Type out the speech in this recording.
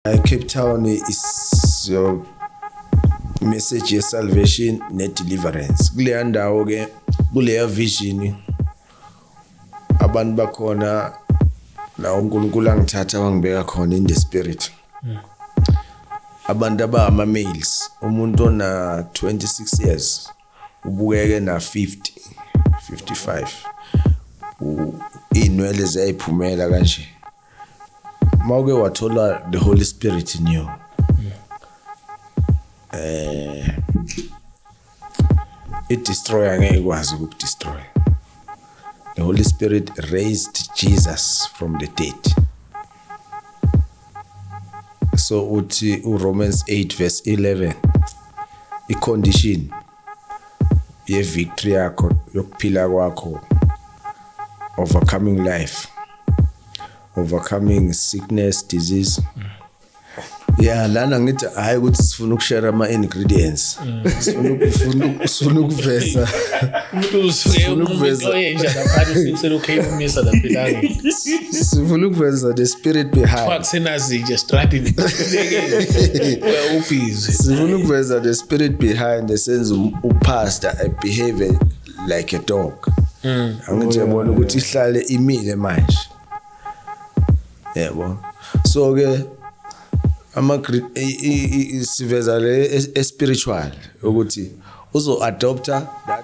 I Cape Town is your message ye salvation ne deliverance kuleya ndawo ke kuleya vision abantu bakhona la uNkulunkulu angithatha wangibeka khona in the spirit hmm. abantu abama males umuntu ona 26 years ubukeke na 50 55 inwele ziyayiphumela kanje mawuke wathola the holy spirit in you hmm. eh i destroyer ngeke ikwazi uku destroy the holy spirit raised jesus from the dead so uthi u Romans 8 verse 11 i condition ye victory yakho yokuphila kwakho overcoming life overcoming sickness disease mm. ya lana ngithi hhayi ukuthi sifuna ukushare ama-ingredients mm. sifuna ukuveza sifuna ukuveza the spirit behindsifuna ukuveza the spirit behind esenza um, upastor abehave like a dog mm. angithi yabona ukuthi ihlale imile manje yebo so ke ama siveza le espiritual ukuthi uzo adopter